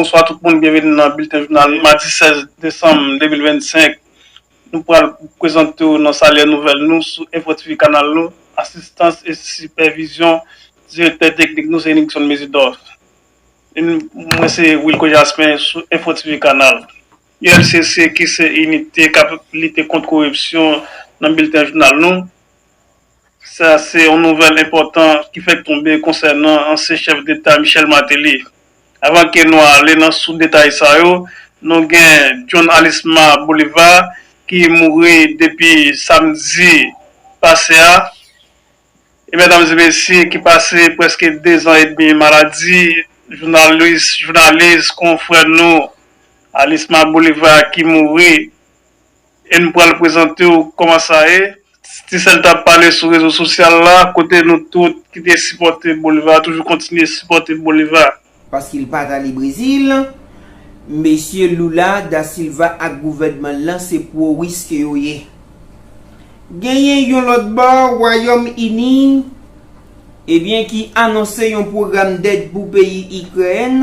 Bonswa tout moun, byenveni nan Bilten Jounal madi 16 desanm 2025. Nou pral prezante w nan salye nouvèl nou sou Info TV kanal nou. Asistans e sipèvizyon direktè teknik nou se Nixon Mésidor. Mwen se Wilco Jasmin sou Info TV kanal. ULCC ki se inite k ap lite kont koripsyon nan Bilten Jounal nou. Sa se yon nouvèl enpòtan ki fèk tonbe konsènan ansyen chèf deta Michel Martelly. Avan ke nou ale nan sous detay sa yo, nou gen John Alisma Bolivar ki mouri depi samdi pase a. E medam e mesye ki pase prèske 2 zan edmi maladi jounalis jounalis konfrè nou Alisma Bolivar ki mouri E nou pral prezante w kòman sa ye. Ti sèl t ap pale sou rezo sosyal la kote nou tout ki te sipòte Bolivar toujou kontinye sipòte Bolivar. Paske l pa t ale Brezil. Mesye Lula da Silva ak gouvènman l lan se pwo Wis ke yo ye. Genyen yon lòt bò Wayòm Ini ebyen ki anonse yon pwogram dèd pou peyi Ikrèn.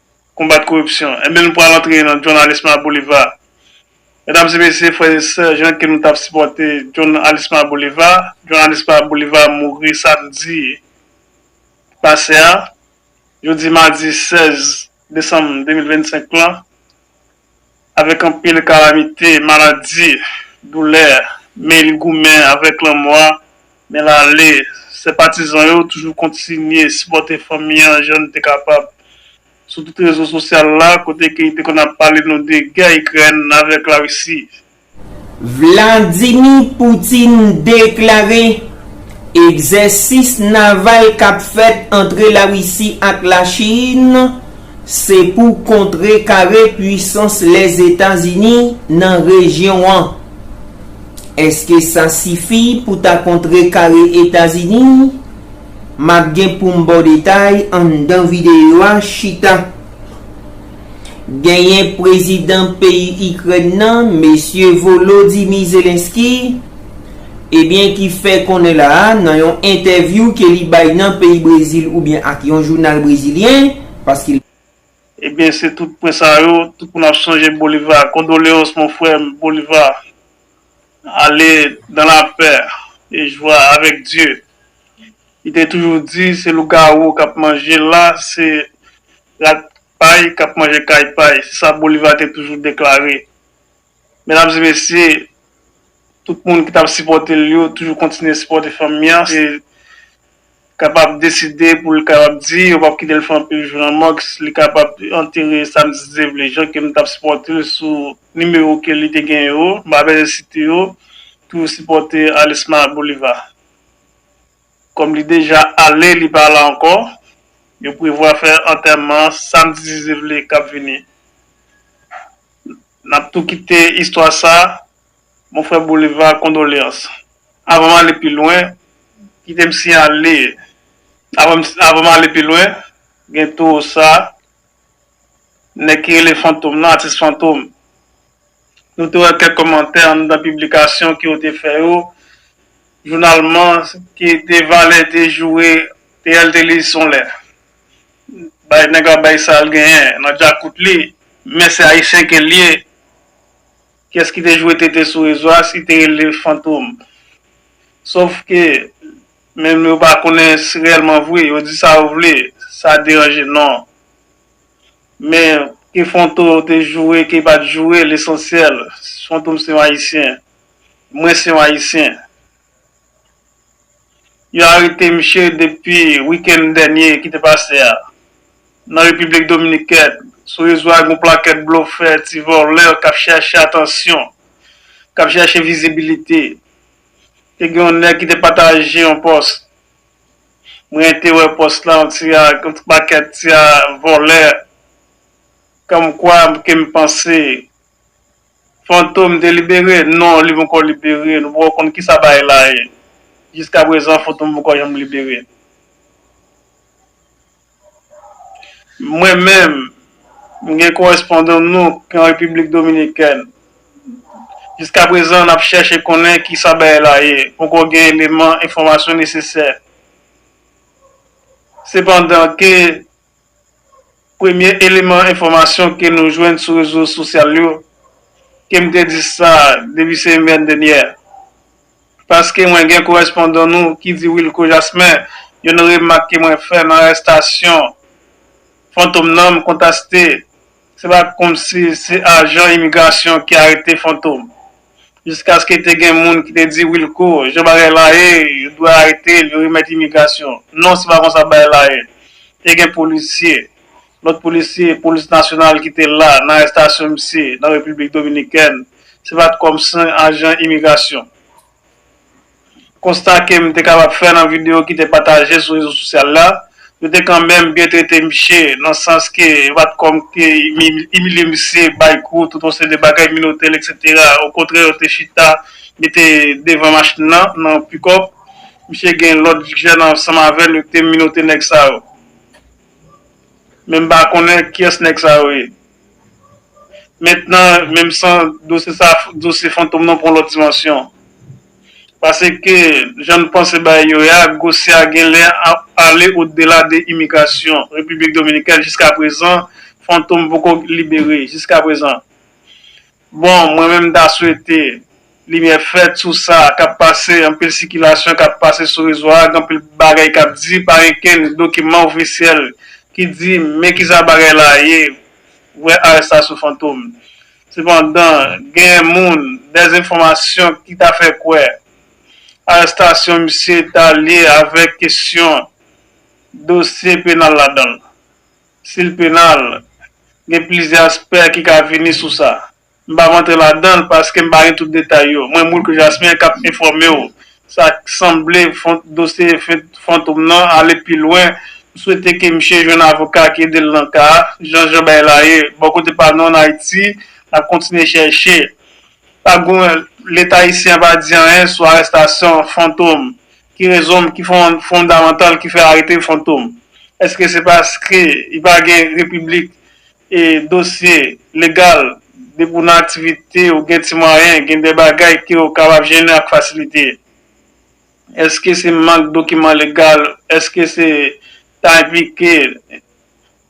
konbat koripsyon. Enben nou pral antre nan John Alisma Boliva. Medam e mesye, frè e sè, jan ke nou tap sipòte John Alisma Boliva, John Alisma Boliva mouri samdi ki pase a, jodi madi 16 desanm 2025 lan, avèk anpil kalamite, maladi, doulè, men li goumen avèk lanmò a, men l ale. Sè patizan yo toujou kontinye sipòte fanmi an jan nou te kapab. Sou tout rezo sosyal la, kote ke li te konn ap pale nou de gè Ikrèn avèk Larisi, Vladimi Poutin deklare egzèsis naval k ap fèt antre Larisi ak Lachin se pou kontrekare pwisans Lèzetazini nan rejyon an. Èske sa sifi pou ta kontrekare Etazini? M ap gen pou m ba w detay anndan videyo a chita. Genyen prezidan peyi Ikrèn nan, Mesye Volodymyr Zelenskyy, ebyen ki fè konnen la a nan yon entèvyou ke li bay nan peyi Brezil oubyen ak yon jounal brezilyen, paske l. Ebyen se tout pwen sa yo, tout moun ap sonje Bolivar, condoleances mon frère Bolivar, ale dans la paix et joie avec Dieu, li te toujou di se lougawou kap manje la, se rat Pay k ap manje kay pay, se sa Boliva te toujou deklare. Medam e mesye, tout moun ki t ap sipòte l yo toujou kontinye sipòte fanmi an e kapab deside pou l kapab di yo p ap kite l fè anpil jou nan mòg, li kapab antere sa misye te vle. Jan ke m t ap sipòte l sou nimewo ke li te gen yo, m pa bezwen site yo, toujou sipòte Alisma Boliva. Kòm li deja ale li pa la ankò, yo prevwa fè antèman an samdi 10 evle k ap vini. N ap tou kite istwa sa, Mon frère Bolivar, kondolyans. Avan m ale pi lwen, kite m siyale, avan m ale pi lwen, gen tou sa, Nèg ki rele Fantom lan, atis Fantom. Nou te wè kèk kòmantè anndan piblikasyon ke yo te fè yo, jounal man ki te valè te joure te al te li son lè. Bay nèg la bay sa l genyen nan djakout li, men se ayisyen ke l ye. Kiyès ki te joure tete sou rezo a si te rele Fantom? Sof ke Menm yo pa konnen si rèlman vre, yo di sa yo vle, sa deranje non. Men, ke Fonto te joure, ke li pa t joure, lesansyèl, Fantom se yon Ayisyen. Mwen se yon Ayisyen. Yo arete misye depi wikenn dènye ki te pase a, nan Repiblik Dominikèn. Sou rezo a gen yon plakèt blofè, ti vòlè k ap chèche atansyon, k ap chèche vizibilite. te gen yon nèg ki te pataje yon pòs mwen te wè pòs la yon ti yon ti pakèt ti vòlè kòm kwa ke m panse Fantom te libere non li poko libere nou poko konn kisa bagay la ye jiskaprezan Fantom poko janm libere. Mwen menm, m gen korespondan nou ki an Repiblik Dominikèn. Jiska prezan n ap chèche konnen ki sa bagay la ye, poko gen eleman enfòmasyon nesesè. Sepandan ke premye eleman enfòmasyon ke nou jwenn sou rezo sosyal yo, ke m te di sa depi semèn dènyè, paske mwen gen korespondan nou ki di Wilko Jasmin yon remak ke mwen fè nan arestasyon Fantom nan m kontaste se pa komsi se ajan imigrasyon ki arete Fantom jiskaske te gen moun ki te di Wilko jan bagay la ye yo dwe arete l yo remèt imigrasyon non se pa konsa bagay la ye te gen polisye lòt polisye polis nasyonal ki te la nan arestasyon misye nan Repiblik Dominikèn. se pa t kòm sen ajan imigrasyon. Konsta ke m te kapab fè nan videyo ki te pataje sou rezo sosyal la, yo te kanmenm byen trete miche nan sans ke yo pa t kòm ke imilye misye, bay kou, tout yon seri de bagay, minote l eksetera. Okontrè yo te chita mete devan machin nan, nan pikòp. Misye gen lòt jèn ansanm avè l yo te minote nèg sa yo. Men m pa konnen kiyès nèg sa yo ye. Mentnan, menm san dosye sa a, dosye Fantom nan pran yon lòt dimansyon. Paske, jan n panse bagay yo ye a, gosye a gen lè ap ale odela de imigrasyon Repiblik Dominikèn. Jiskaprezan, Fantom poko libere. Jiskaprezan. Bon mwen menm m ta swete limyè fèt sou sa kap pase anpil sikilasyon kap pase sou rezo a gen anpil bagay kap di pa gen kenn dokiman ofisyèl ki di men kisa bagay la ye vrè arestasyon fantom sepandan gen moun dè enfòmasyon ki ta fè kwè arestasyon misye ta lye avèk kesyon dosye penal ladanl. sil penal, gen plizyè aspè ki ka vini sou sa. M pap antre ladan l paske m pa gen tout detay yo. Mwen Moulk Jasmin k ap enfòme w sa k sanble dosye Fantom nan ale pi lwen. M swete ke misye jwenn avoka ki ede l nan ka a. Jan jan bagay la ye, bò kote pa nou an Ayiti, n ap kontinye chèche. Pa gen, Leta ayisyen an pa di anyen sou arestasyon Fantom. Ki rezon ki fondamantal ki fè arete Fantom? Eske se paske li pa gen repiblik e dosye legal depi ou nan aktivite ou gen ti mwayen gen de bagay ke ou kapab jennen ak fasilite? Eske se mank dokiman legal? Eske se ta enplike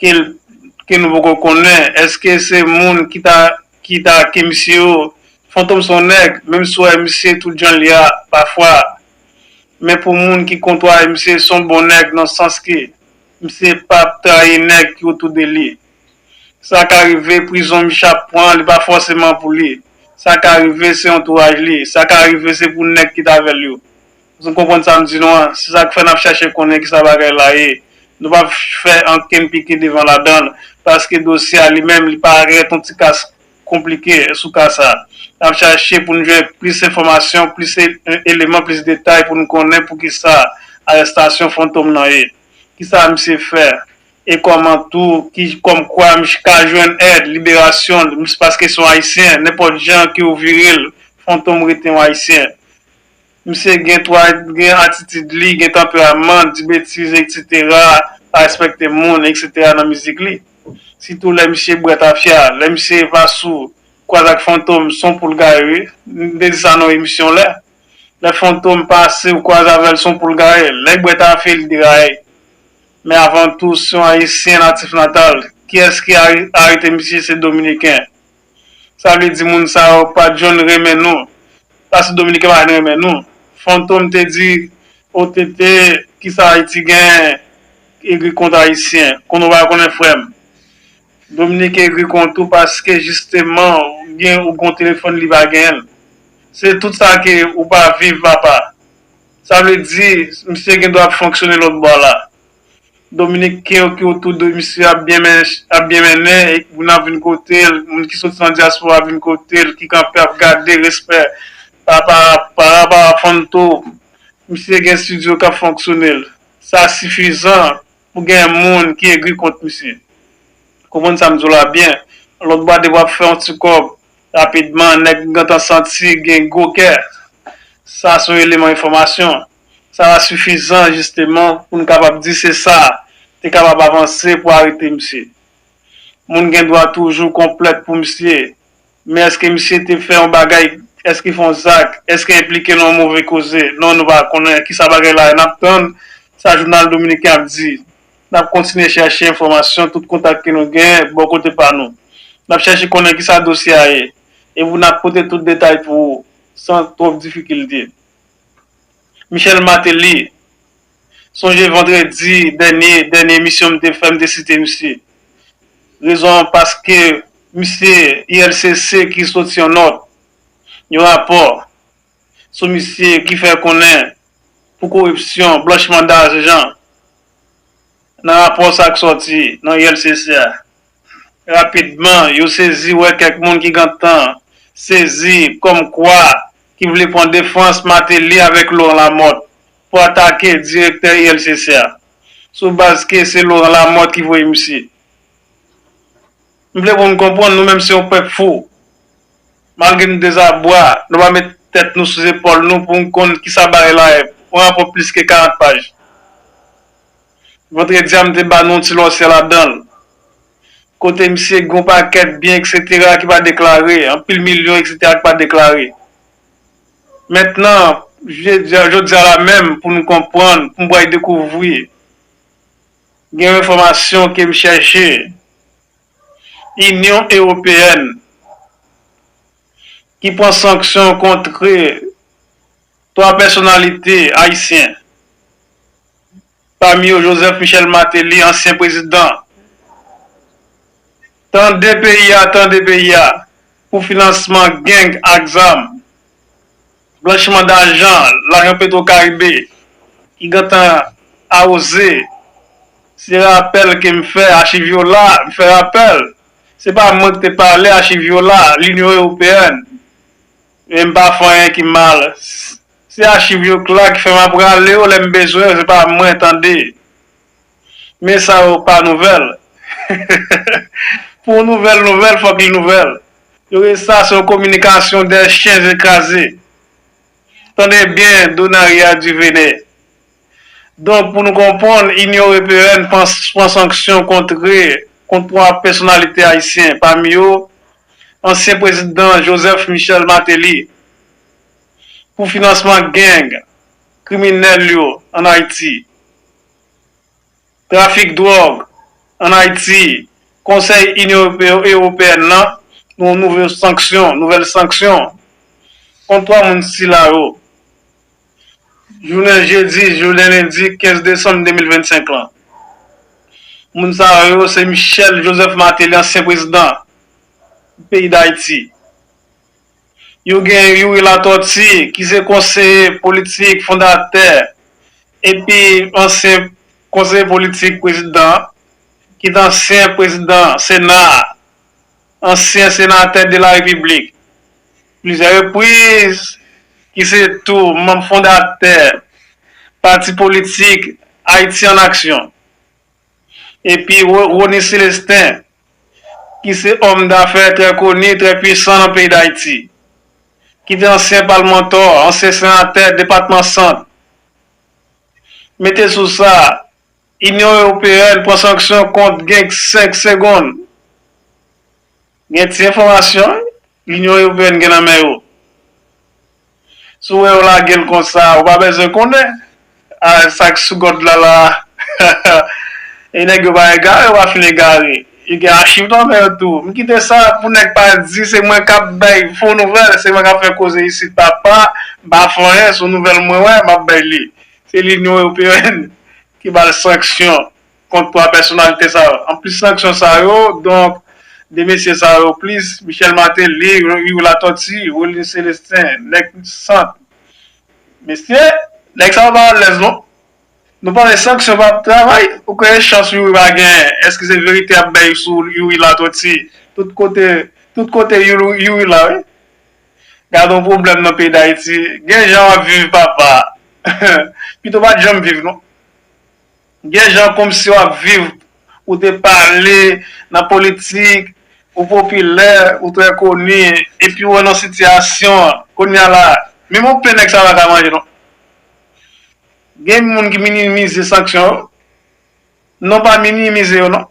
ke nou poko konnen, eske se moun ki ta ake misye yo, Fantom son nèg, menm si w wè misye tout jan l ye a pafwa, men pou moun ki kontwaye misye son bon nèg nan sans ke misye pap trayi nèg ki otou de li, sa ka rive prizon misye ap pran li pa fòseman pou li, sa ka rive se antouraj li, sa ka rive se pou nèg ki t avè l yo, Nou konprann sa m di nou an? Se sa k fè n ap chache konnen ki sa bagay la ye. Nou pap fè ankenn pike devan ladan l, paske dosye a li menm li parèt yon ti kas konplike sou ka sa. N ap chache pou n jwenn plis enfòmasyon, plis eleman, plis detay pou n konnen pou ki sa arèstasyon Fantom nan ye. Ki sa misye fè? E kòman tou ki kòm kwa misye ka jwenn èd, liberasyon l, paske se yon Ayisyen, nenpòt jan ke ou vire l, Fantom rete yon Ayisyen. Misye gen twa gen atitid li gen tanperaman di betiz etc pa respekte moun etc nan mizik li sitou lè misye bwè tafya lè misye va sou kwaz ak fantom son poul gaye wi m te di sa nan yon emisyon lè lè fantom pase ou kwaz avèl son poul gaye lèl bwè tafe li deraye men avan tou se yon ayisyen natif natal kiyès ki arete misye se dominiken. Sa vle di moun sa yo pa jwenn renmen nou pask dominiken pa jwenn renmen nou fantom te di ou TT kisa ayiti gen egri kont ayisyen konn ou pa konnen frèm dominiken egri kont ou paske jisteman gen ou gon telefòn li pa genyenl se tout sa ke ou pa viv papa sa vle di misye gen dwa ap fonksyone lòt bò la. Dominiken yo ki otou de misye ap byen mennen e moun ap vin kote l, moun ki soti nan dyaspora ap vin kote l, ki kanpe ap gade respè para pa Fanto. Misye gen studio k ap fonksyone l. Sa sifizan pou gen moun ki egri kont misye. Ou konprann sa m di w la byen. Lòt bwa de bwa ap fè yon ti kòb rapidman. Nèg m gentan santi gen gwo kè. Sa se yon eleman enfòmasyon. Sa va sifizan, jisteman, pou n kapab di se sa, te kapab avanse pou arete misye. Moun gen dwa toujou konplèt pou misye, men èske misye te fè yon bagay, èske fè yon zak, èske enplike nan yon move koze? Non, nou pa konnen ki sa bagay la ye. N ap tann sa jounal dominiken ap di. N ap kontinye chèche enfòmasyon tout kontak ke nou gen bò kote pa nou. N ap chèche konnen ki sa dosye a ye. Epi n ap pote tout detay pou ou san twòp difikilte. Michel Martelly, sonje vandredi dènye, dènye emisyon m te fè m te site misye. Rezon an paske misye ILCC ki soti yon nòt, yon rapò sou misye ki fè konnen pou koripsyon, blanchiman dajan nan rapò sa k soti nan ILCC a. Rapidman, yo sezi wè kèk moun ki gentan sezi kòm kwa ki vle pran defans Martelly avèk Laurent Lamothe pou atake direktè ILCC a sou baz ke se Laurent Lamothe ki voye misye. M vle pou nou konprann nou menm se yon pèp fou. Malgre nou dezabwa, nou pa met tèt nou sou zepòl nou pou nou konn kisa bagay la ye, yon rapò plis ke 40 paj. Vendredi a m te ba nou yon ti lòsyè ladan l. Kote misye gen yon pakèt byen eksetera ki pa deklare, anpil milyon eksetera ki pa deklare. Mentnan, jodi a la menm pou nou konprann, pou m bway dekouvri, gen yon enfòmasyon ke m chèche, Inyon Ewopeyèn ki pran sanksyon kontre. 3 pèsonalite ayisyen, pami yo Joseph Michel Martelly, ansyen prezidan, tande peyi a, tande peyi a, pou finansman gang ak zam, blanchiman dajan, lajan petro karibe, ki gentan awoze, se rapèl ke m fè, achiv yo la, m fè rapèl, se pa mwen ki te pale, achiv yo la, Linyon Ewopeyèn, Menm pa fè anyen ki mal. Se achiv yo k la ki fèm ap rale yo lèm bezwen yo se pa mwen tande. Men sa yo pa nouvèl. Pou yon nouvèl nouvèl fòk li nouvèl. Yo rele sa se yon kominikasyon dè chyen ze kraze. Tande byen Donaria Duvene. Donk pou nou konprann, Inyon Ewopeèn pran sanksyon kontre kont 3 pèsonalite ayisyen, pami yo ansyen prezidan Joseph Michel Martelly, pou finansman gang kriminèl yo an Ayiti, trafik dwòg an Ayiti, Konsèy Inyon Ewopeèn nan pran nouvèl sanksyon kont 3 moun sila yo. jounen jedi jounen lendi 15 desanm 2025 lan. Moun sa yo se Michel Joseph Martelly ansyen prezidan peyi Dayiti. Yo gen Youri Latortue ki se konseye politik fondatè epi ansyen konseye politik prezidan an, ki t ansyen prezidan sena a, ansyen senatè de la repiblik. Plizyè repriz, ki se tou manm fondatè pati politik Ayiti an Aksyon, epi Rony Celestin, ki se òm dafè trè koni, trè pwisan nan peyi Dayiti, ki te ansyen palmantò, ansyen senatè depatman Sant. Mete sou sa, Inyon Ewopeyèn pran sanksyon kont Genk 5 Segonn. Gen ti enfòmasyon Linyon Ewopeyen gen nan men yo. Si w wè yo lage l konsa, ou pa bezwen konnen sa k sou gòd la la a. E nèg yo pa egare, yo pa fin egare. Yo gen achiv nan men yo tou. M kite sa pou nèg pa di se mwen k ap bay fo nouvèl, se mwen k ap fè koze isit papa. M pa fè anyen, s on nouvèl mwen wè, m ap bay li. Se Linyon Ewopeyen ki ba l sanksyon. kont 3 pèsonalite sa yo. Anplis sanksyon sa yo, donk, 2 mesye sa yo plis Michel Martelly, Riiu Latortue, Rolin Celestin, nèg sant. Mesye, nèg sa yo pa alèz non. Nou panse sanksyon pa ap travay? Ou kwè chans Youri pa genyen? Èske se verite y ap bay sou Youri Latortue? Tout kote, tout kote Youri la wi. Gade yon pwoblèm nan peyi Dayiti. Gen jan w ap viv papa. Pito w pa t janm viv non. Gen jan komsi wap viv ou te pale nan politik ou popilè ou trè koni epi ou nan sitiyasyon an kounya la menm yon pen nèg sa paka manje non gen moun ki minimize sanksyon yo non pa minimize yo non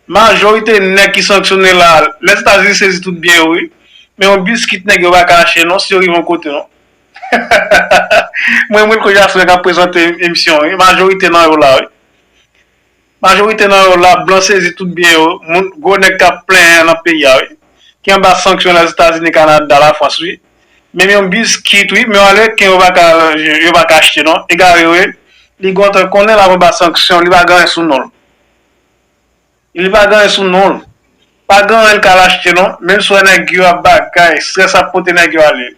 majorite nèg ki sanksyone la lèzetazini sezi tout byen yo wi men yon biskit nèg yo paka achte non si yo rive yon kote non. Mwen renmn koze a frè kap prezante emisyon wi majorite nan yo la wi majorite nan yo la blan sezi tout byen yo moun gwo nèg kap plenyen nan peyi a wi ki anba sanksyon lèzetazini kanada lafrans wi menm yon biskit wi menm ameriken yo paka yo paka achte non egare yo ye li gontan konnen lap anba sanksyon li pa gen anyen sou nonl. Li pa gen anyen sou nonl. Pa gen anyen l k al achte non. Menm si w wè nèg yo ap bagay, strès ap pote nèg yo ale.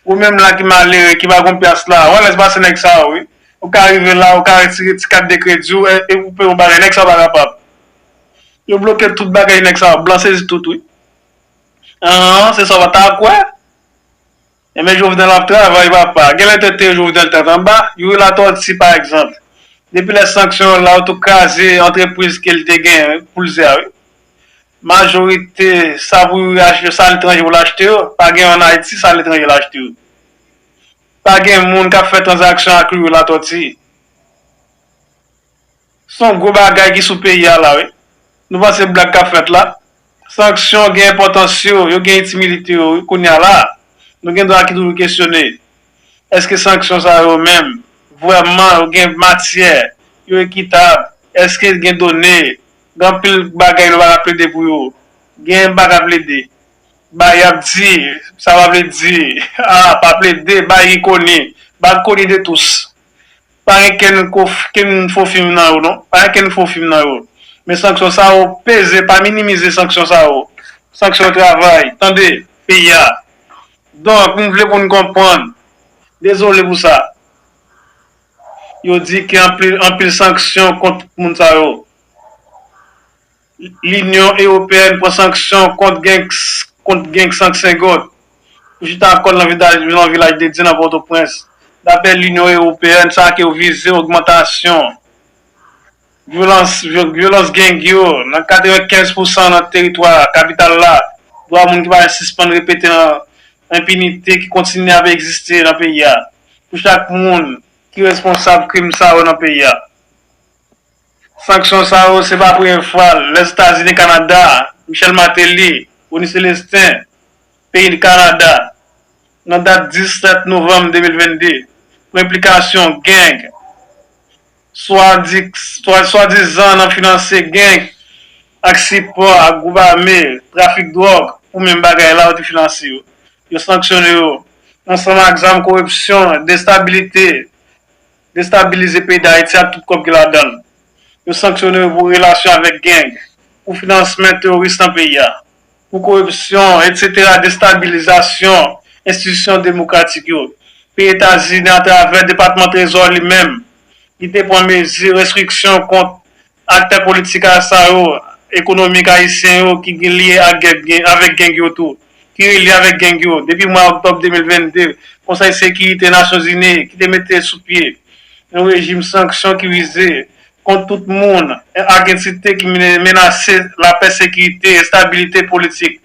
Ou menm la ki malere, ki pa gen yon pyas la, wè lèz pase nèg sa yo wi. Ou ka rive la, ou ka retire ti kat de kredi w e pou peye yon bagay, nèg sa yo pa kapab. Yo bloke tout bagay nèg sa yo, blan sezi tout wi. An, se sa w pa ta kwè. Enben Jovenel ap travay papa. Genlè tèt te Jovenel tèt anba. Youri Latortue pa egzanp. Depi lè sanksyon yo la yo tou kraze antrepriz ke li te genyen pou l ze a wi. Majorite sa pou Youri achte yo sa letranje pou l achte yo. Pa gen an Ayiti sa letranje l achte yo. Pa gen moun k ap fè tranzaksyon ak Youri Latortue. Se yon gwo bagay ki sou peyi a la wi. Nou panse blag kap fèt la. Sanksyon gen enpòtans yo, yo gen itimilite yo wi kounya la. Nou gen dwa ki toujou kesyone. Eske sanksyon sa yo menm vrèman yo gen matyè, yo ekitab, eske gen done. Gen anpil bagay nou pa ka plede pou yo. Gen nou pa ka plede. Bay yap di, sa pa vle di. Ah pa plede, bay ri koni. Bal koni de tous. Pa gen kenn kenn fo fim nan yo non. Pa gen kenn fo fim nan yo. Men sanksyon sa yo peze pa minimize sanksyon sa yo. Sanksyon travay tande peyi a. Donk m vle pou n konprann. Dezole pou sa. Yo di gen anpil anpil sanksyon kont moun sa yo. Linyon Ewopeyèn pran sanksyon kont geng Sank Sengot, ki chita kò l nan Vilaj Dedye nan Pòtoprens. Dapre Linyon Ewopeyèn, sa ak yo vize ogmantasyon vyolans geng yo nan 95 pousan nan teritwa kapital la, dwa moun ki pa janm sispann repete nan enpinite ki kontinye ap egziste nan peyi a, pou chak moun ki responsab krim sa yo nan peyi a. Sanksyon sa yo se pa premye fwa Lèzetazini, Kanada, Michel Martelly, Rony Celestin, peyi Kanada, nan dat 17 novanm 2022, pou enplikasyon gang, swadizan nan finanse gang ak sipò ak gwoup ame, trafik dwòg pou menm bagay la yo te finanse yo. Yo sanksyone yo ansanm ak zam koripsyon, destabilite. destabilize peyi Dayiti ak tout kòb ki ladan l. Yo sanksyone yo pou relasyon avèk gang, pou finansmen teworis nan peyi a, pou koripsyon, etsetera, destabilizasyon enstitisyon demokratik yo. Peyi Etazini atravè Depatman Trezò li menm, li te pran mezi restriksyon kont Aktè politik sa yo, ekonomik ayisyen yo ki lye avèk geng yo tou, ki relye avèk geng yo depi mwa oktòb 2022, Konsèy Sekirite Nasyonzini ki te mete sou pye yon rejim sanksyon ki vize kont tout moun ak entite ki menase lapè, sekirite, estabilite politik.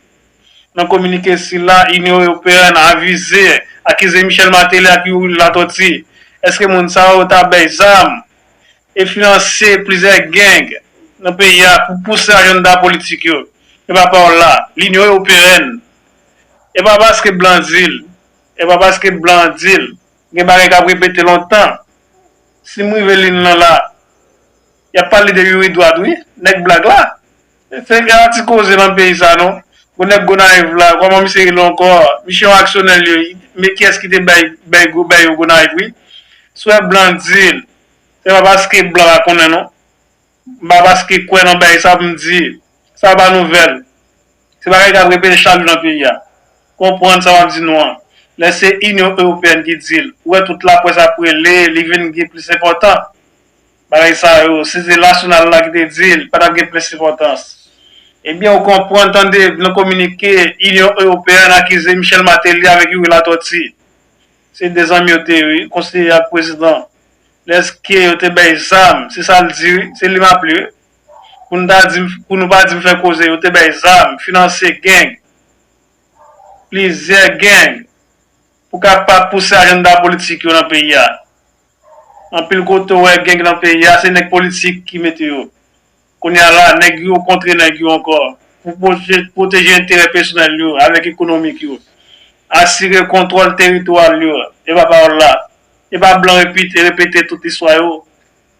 Nan kominike sila, Inyon Ewopeyèn avize, akize Michel Martelly ak Youri Latortue, Èske moun sa yo ta bay zam e finanse plizyè gang nan peyi a pou pouse ajanda politik yo, epa pa w la, linyon ewopeèn, epa paske blan di l, epa paske blan di l, gen bagay k ap repete lontan, si m rive li n lan la, y ap pale de youri dwat wi, nèg blag la, se gen yon ti koze lan peyi sa non, gwo nèg gonayiv la, kòman misye rele ankò, misye yon aksyonè l ye wi, men kiyès ki te bay yo gonayiv wi, si w wè blan di l, Se pa paske blan pa konnen non. M pa paske kwè nan bagay sa pou m di sa pa nouvèl. Se bagay k ap repete chak jou nan peyi a. Konprann sa m ap di nou an. Lè se Inyon Ewopeyèn ki di l, ou wè tout laprès ap rele, li vin gen plis enpòtan. Bagay sa yo, si se nasyonal la ki te di l, pa t ap gen plis enpòtans. Ebyen ou konprann tande nan kominike Inyon Ewopeyèn akize Michel Martelly avèk Youri Latortue. Se de zanmi yo te ye wi konseye ak prezidan lèske yo te bèy zam se sal di wi se li map li wi pou nou ta dim pou nou pa dim fè koze yo te bèy zam finanse gang plizyè gang pou kapab pouse ajanda politik yo nan peyi a anpil kote ou wè gang nan peyi a se nèg politik ki mete yo Kounye a la, nèg yo kontre nèg yo ankò pou pwoteje enterè pèsonèl yo avèk ekonomik yo, asire kontwòl teritoral yo, e pa pawòl la. E pa blan repite repete tout istwa yo.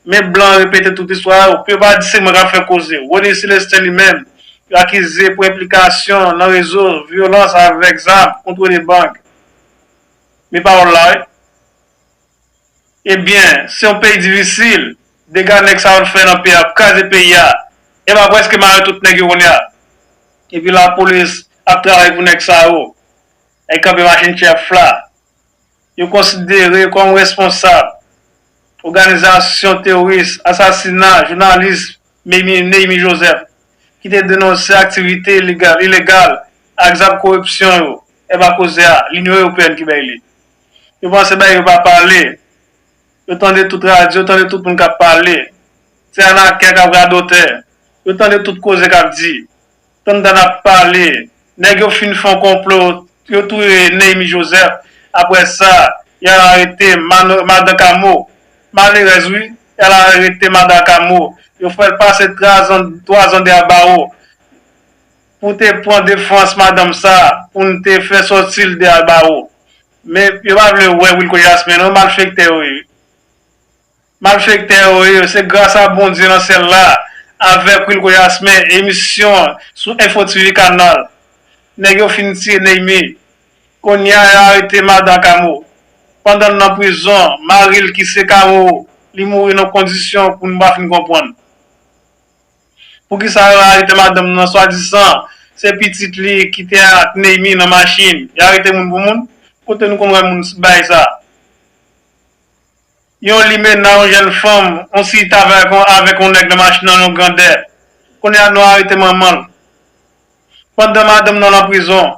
Men blan repete tout istwa yo, pou yo pa di se mwen k ap fè koze. Rony Celestin li menm, yo akize pou enplikasyon nan rezo vyolans avèk zam, kontwole bank. Men pawòl la wi. Ebyen se yon peyi difisil, dega nèg sa yo t fè nan peyi a ap kraze peyi a, epa yo preske mare tout nèg yo kounya, epi lapolis ap travay pou nèg sa yo, nèg kanpe machin chèf la, yo konsidere kòm responsab oganizasyon teworis asasina jounalis Neyimi Joseph ki te denonse aktivite ilegal ak zak koripsyon yo, epa kozea linyon ewopeyèn ki bay li. Yo panse bagay yo pa pale. Yo tande tout radyo, yo tande tout moun k ap pale. Se anakè k ap radotè. Yo tande tout koze k ap di. Tantan ap pale. Nèg yo fin fè yon konplo, yo touye Neymi Jozèf. Apre sa, y al arete madan Kamo. Malerèz wi. Y al arete madan Kamo. Yo fè l pase twazan dèyè bawo. Pou te pran defans madanm sa pou n te fè sòti l deyal bawo men yo pa vle wè wilko jasmin non malfektè yo ye wi malfektè yo ye se gras a bondye nan syèl la avèk wilko jasmin emisyon sou enfo tv kanal nèg yo fin tiye neymi konnya yo arete madan kamo pandan l nan prizon mari l ki se karo li mouri nan kondisyon pou nou pa fin konprann. Poukisa yo arete madanm nan swadisan se pitit li kite ak Neymi nan machin yo arete moun pou moun kote nou konn wè moun bay sa yon limena yon jèn fanm yon si ta avèk yon nèg nan machin nan yon grandè kounye a nou arete manmanl pandan madanm nan nan prizon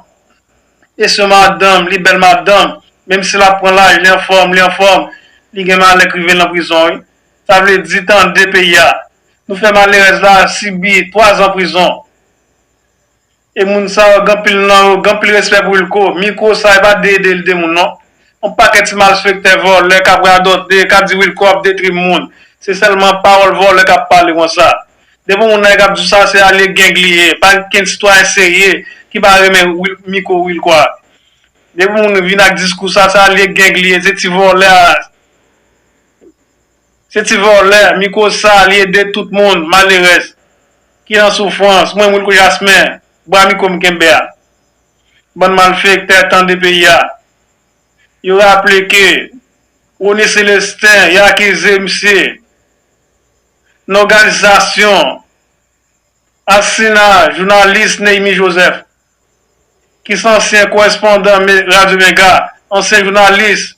e se yon madanm li bèl madanm menm si lap pran laj li anfòm li anfòm li gen malè k rive l nan prizon wi Sa vle di tande peyi a. Nou fè malerèz la sibi 3 zan prizon. E moun sa yo gen anpil nan yo gen anpil respè pou Wilco. Mikro sa e pa de ede li de moun non. Yon pakèt ti malfektè vòlè kap radote ka di Wilco ap detri moun. Se sèlman pawòl vòlè kap pale konsa. Depi moun nan e kap di sa se alye gang li ye. Pa gen kenn sitwayen serye ki pa renmen mikro Wilco a. Depi moun vin ak diskou sa se alye gang li ye se ti vòlè a. Se ti vòlè micro sa li ede tout moun malerèz ki nan soufrans mwen wilko jasmin bwa micro m kenbe a bann malfektè tande peyi a yo raple ke Rony Celestin yo akize misye nan òganizasyon asina jounalis Neymi Joseph ki se ansyen korespondan radio mega ansyen jounalis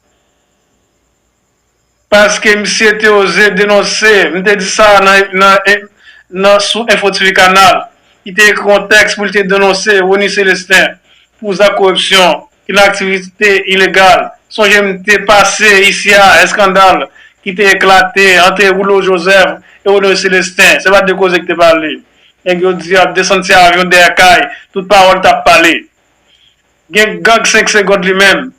paske misye te oze denonse, m te di sa nan sou Enfo TV Kanal, li te ekri yon tèks pou li te denonse Rony Celestin pou zak koripsyon ki nan aktivite ilegal. Sonje m te pase isi a eskandal ki te eklate ant Rouleau Joseph e Rony Celestin, se pa de koze ki te pale. Nèg yo di yo ap desann ti avyon dèyè kay, tout pawòl t ap pale. Gen gang 5 segond li menm.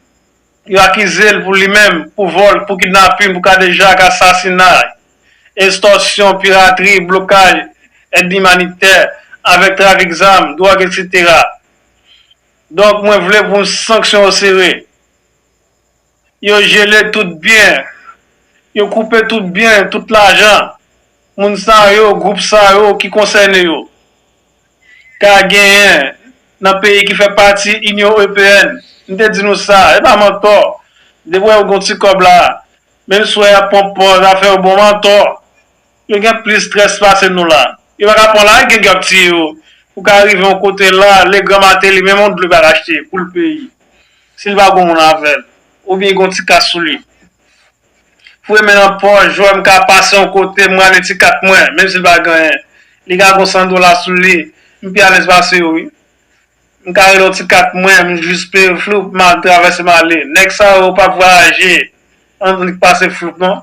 Yo akize l pou li menm pou vòl, pou kidnapin, pou kadejak, asasinay, estòsyon, piratri, blokaj èd imanitè, avèk trafik zam, dwòg eksetera. Donk mwen vle pou sanksyon yo sere. Yo jele tout byen. Yo koupe tout byen, tout lajan. Moun sa yo, gwoup sa yo ki konsène yo. ka genyen nan peyi ki fè pati Inyon Ewopeyèn. M te di nou sa, e pa mantò. Depi w wè yo gen yon ti kòb la, menm si w wè y ap pran w pòz, afè yo bon, mantò. Yo gen plis strès pase nou la. Yo pa ka pran w la ak gang yo ap tiye yo. Ou ka rive yon kote la, Legrand Martelly menm yon dlo pa ka achte pou l peyi, si l pa gen yon moun avè l, oubyen gen yon ti kas sou li. Foure men nan pòch, jwè m ka pase yon kote, m rale ti kat mwen, menm si l pa gen anyen. Li ka gon san dola sou li, m pi alèz pase yo wi. M ka rele yon ti kat mwen, m jis peye yo floup, m al travèse m ale. Nèg sa yo pa p vwayaje annik pase floup non.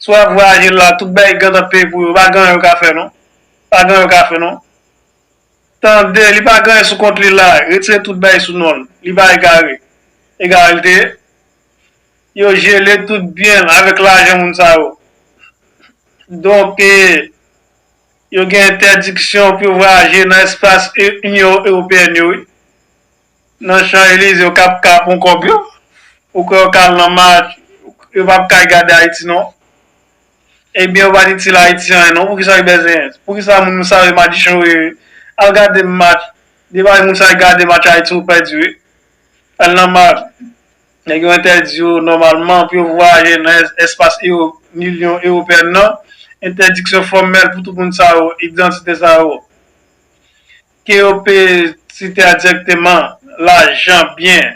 Si w ap vwayaje la, tout bagay gentan peye pou yo, pa gen anyen yo ka fè non. Pa gen anyen yo ka fè non. Tande, li pa gen anyen sou kont li la, retire tout bagay sou non l. Li pa egare. Egare l te ye? Yo jele tout byen l avèk lajan moun sa yo. Donk, yo gen entèdiksyon pou yo vwayaje nan espas Inyon Ewopeyèn yo wi. Nan Chan Elize yo kap ka pran kòb yo. Ou kwè yo ka al nan mach, yo pa p ka al gade Ayiti non. Ebyen yo pa t itil Ayiti anyen non, poukisa yo bèzen, poukisa moun sa yo madichon yo ye. Al gade mach, depi moun sa yo gade mach Ayiti ou pèdi wi. Al nan mach. Nèg yo entèdi yo nòmalman pou yo vwayaje nan espas Unyon Ewopeyèn nan. Entèdiksyon fòmèl pou tout moun sa yo, idantite sa yo, ke yo pe site a dirèkteman, lajan, byen,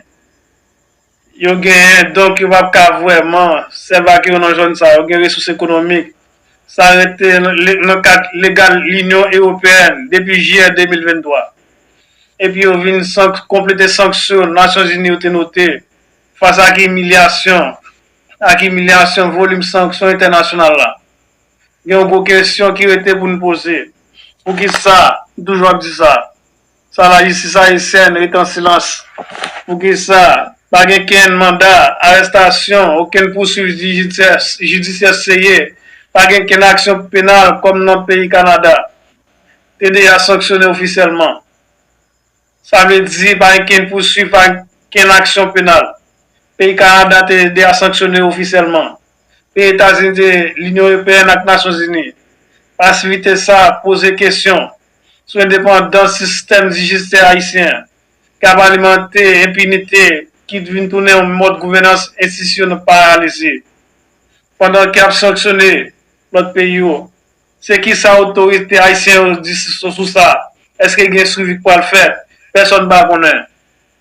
yo genyen, donk yo pap ka vrèman sèvi ak yo nan zòn sa yo gen resous ekonomik. Sa rete nan kad legal Unyon Ewopeyèn depi jiyè 2023. epi yo vin konplete sanksyon Nasyonzini yo te note fas ak imilyasyon ak imilyasyon volim sanksyon entènasyonal la. Gen yon gwo kesyon ki rete pou n poze, poukisa n toujou ap di sa? Sa lajistis ayisyèn rete an silans? Poukisa pa gen kenn manda arestasyon, okenn pouswiv jidisyè seye, pa gen kenn aksyon penal kòm nan peyi Kanada? TDH sanksyone ofisyèlman. Sa vle di pa gen kenn pouswiv, pa kenn aksyon penal. Peyi Kanada TDH sanksyone ofisyèlman. Peyi Etazini te Linyon Ewopeyèn ak Nasyon Zini. Pasivite sa poze kesyon sou endepandans sistèm dijistè ayisyen an ki ap alimante enpinite ki vin tounen yon mòd gouvènans enstitisyon paralize pandan ke ap sanksyone lòt peyi yo. Se ki sa otorite ayisyen yo di sou sa? Èske gen swivi k pral fèt? Pèsòn pa konnen.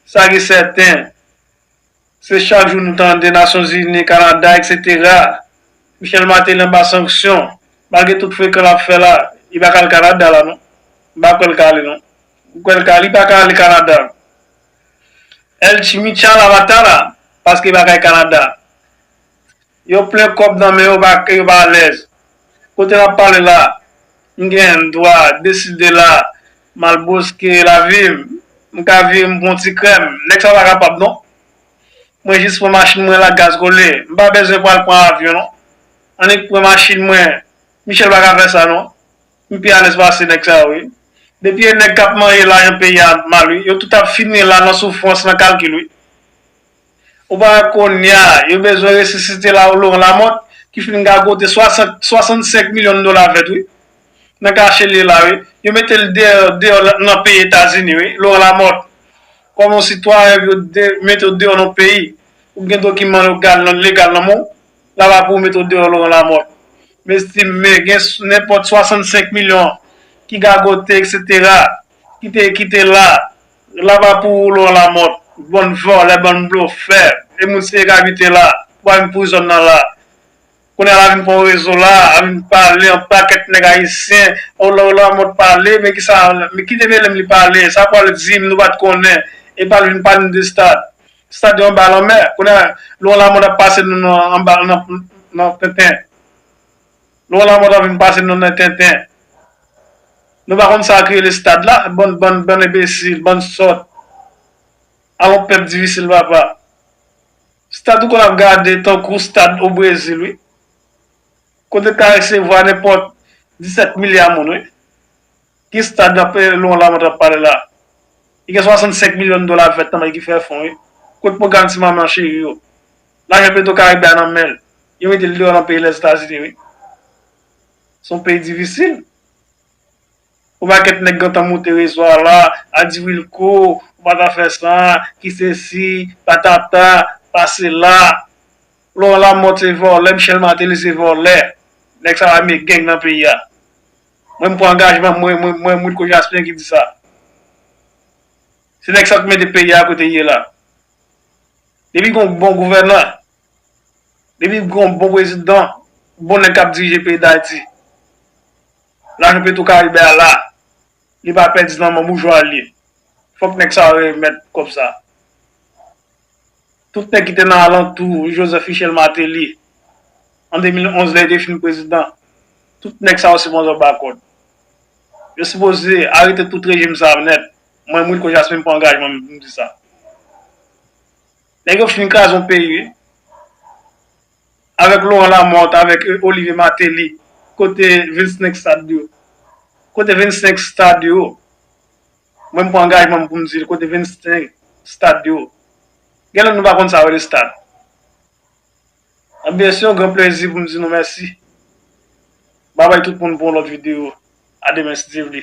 Sa ki sèten, se chak jou nou tande Nasyonzini, Kanada, eksetera. Michel Martelly anba sanksyon. Malgre tout frekan l ap fè la, li pa ka al Kanada la non. M pa kwè l ka ale non. Ou kwè l ka ale? Li pa ka ale Kanada. El Chimichal Abatala, paske bagay Kanada. Yo plen kòb nan men yo pa ke yo pa alèz. Kote map pale la, m gen dwa deside la m al boske lavi m, m ka vire m pou yon ti krèm. Nèg sa pa kapab non. Mwen jis pran machin mwen la gaz kole. M pa bezwen pral pran avyon non. Annik pran machin mwen. Michel pa ka fè sa non. M pi alèz pase nèg sa yo wi. Depi e nèg kap manye lajan peyi a ap mal wi. Yo tout ap fini la nan soufrans, nan kalkil wi. Ou pa wè konnya yo bezwen resisite Laurent Lamothe ki fin gagote 65 milyon dola vèt wi. Nan kache l ye la wi. Yo mete l deyò nan peyi Etazini wi. Laurent Lamothe. Kòm yon sitwayen epi yo mete w deyò nan yon peyi. Ou gen dokiman yo legal nan men w. La va pou yo mete w deyò Laurent Lamothe. Mezti me gen nenpòt 65 milyon ki gagote eksetera. Ki te la. Laba pou ou lwa lamòt. Bann vòlè bann blofè e moun siye kabite la pou al vin pouri zòn nan la kounye a la vin pran rezo la a vin pale an pakèt nèg ayisyen o lwa lamòt pale men kisa men ki develem li pale sa pwal di nou pat konnen epa l vin pale nou de stad stad yo anba lanmè kounye a lwa lamòt ap pase nou nan anba nan penten. Laurent Lamothe ap vin pase nou nan tenten. Nou pa konn sa k rele stad la? Bann bann bann enbesil, bann sòt. Alon pèp difisil papa. Stad ou konn ap gade tankou stad o Brezil wi. Kote k ta resevwa nenpòt 17 milya moun wi. Ki stad lap Laurent Lamothe ap pale la? Li gen 65 milyon dola ap fèt nan men ki fè fon wi. Kot pwogram ti manman cheri yo? Lajan petro karibe a nan menl. Yo metel deyò nan peyi lèzetazini wi. Son peyi difisil. Yon pakèt nèg gentan moute rezo a la, a di wilco ou pa ta fè sa, ki sesi, patata, pa sela. Laurent Lamothe se vòlè, Michel Martelly se vòlè. Nèg sa pa reme gang nan peyi a. Mwen m pran angajman mwen mwen mwen moun ko jasmin ki di sa. Se nèg sa ki mete peyi a kote ye la. Depi gon bon gouvènan, depi gon bon prezidan, bon nèg kap dirije peyi dayiti. Lajan petro karibe a la, li pa pèdi nan men boujwa li. Fòk nèg sa yo remèt kòb sa. Tout nèg ki te nan alantou Joseph Michel Martelly an 2011 lè li te fin prezidan, tout nèg sa yo se bon zanba kòd. Yo sipoze arete tout rejim sa a nèt. Mwen Wilko Jasmin m pran angajman m pou m di sa. Nèg yo fin kraze yon peyi wi. Avèk Laurent Lamothe, avèk Olivier Martelly, kote 25 stad yo? Kote 25 stad yo? Mwen m pran angajman m pou m di l kote 25 stad yo. Gen lè nou pa konn sa yo rele stad. Anben se yon gran plezi pou m di nou mèsi. Babay tout moun pou yon lòt videyo. A demen si Dye vle.